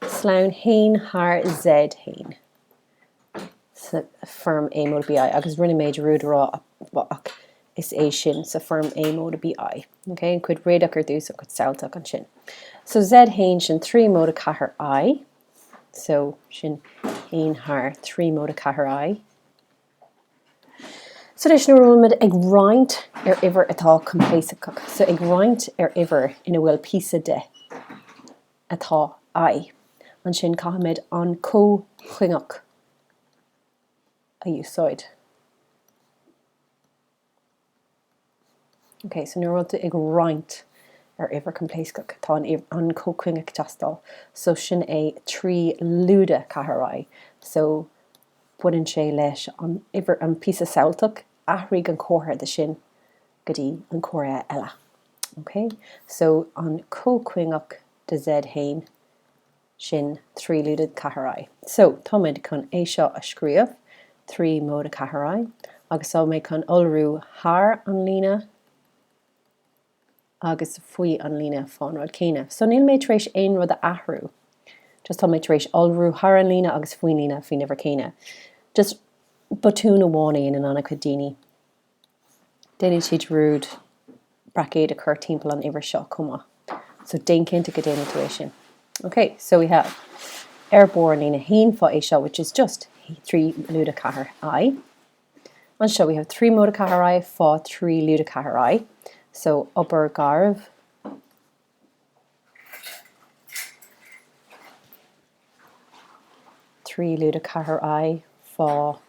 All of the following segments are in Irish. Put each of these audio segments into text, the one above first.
sloinn haon thar Z haon, sa foirm A móide BI, agus rinne mé dearúd a rá ach is é sin, sa foirm A móide BI, OK, an chuid réadach ar dtús, an chuid samhailteach ansin. So Z haon sin 3 móide 4 I, so sin 1 thar 3 móide 4 I, So anois, nuair a bhfuilimid ag roinnt ar uimhir atá coimpléascach, so ag roinnt ar uimhir ina bhfuil píosa de atá I, ansin caithfimid an comhchuingeach a úsáid. OK, so nuair a bhfuil tú ag roinnt ar uimhir coimpléascach, tá an comhchuingeach ag teastáil. So sin é trí lúide ceathair i. So baineann sé leis an uimhir, an píosa samhailteach, athraigh an comhartha de sin go dtí an comhartha eile. OK? So an comhchuingeach de Z haon. sin trí lúide ceathair i. So, táimid chun é seo a scríobh trí móide ceathair i agus tá mé chun iolrú thar an líne agus faoi an líne fán rud céanna. So, níl mé tar éis aon rud a athrú, just tá mé tar éis iolrú thar an líne agus faoin líne faoin uimhir céanna. Just botún amháin a dhéanann an-chuid daoine. déanann siad dearúd braicéad a chur timpeall an uimhir seo chomh maith. So, déan cinnte go déanann tú é sin. OK, so we have ar barr an líne 1 fá é seo, which is just 3 lúide 4 i. Anseo we have 3 móide 4 i fá 3 lúide 4 i. So, obair garbh. Trí lúide 4 i fá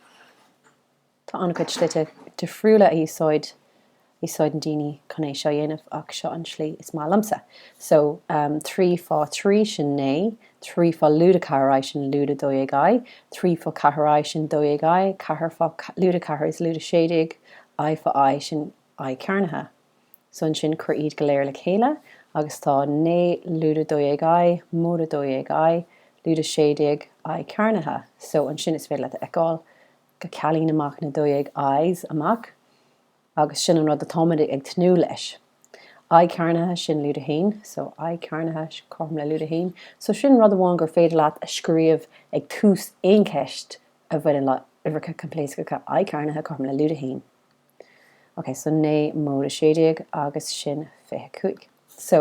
Tá an-chuid slite difriúla a úsáideann daoine chun é seo a dhéanamh ach seo an tslí is maith liomsa. So, trí fá thrí sin naoi, trí fá lúide ceathair i sin lúide dó dhéag i, trí fá ceathair i sin dó dhéag i, ceathair fá lúide ceathair is lúide sé déag, i fá i sin i cearnaithe. So ansin cuir iad go léir le chéile agus tá naoi lúide dó dhéag i, móide dó dhéag i, lúide sé déag, i cearnaithe. So ansin is féidir leat a fheiceáil go gcealaíonn amach na dó dhéag i's amach agus sin an rud atáimid ag tnúth leis i cearnaithe, sin lúide haon so i cearnaithe, cothrom le lúide haon so sin rud amháin gur féidir leat a scríobh ag tús aon cheist a bhaineann le uimhreacha coimpléascacha i cearnaithe, cothrom le lúide haon ok so naoi móide 16 agus sin 25 so.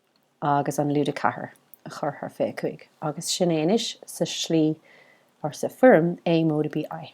agus an lúide 4 a chur thar 25, agus sin é anois sa slí or sa foirm A móide BI.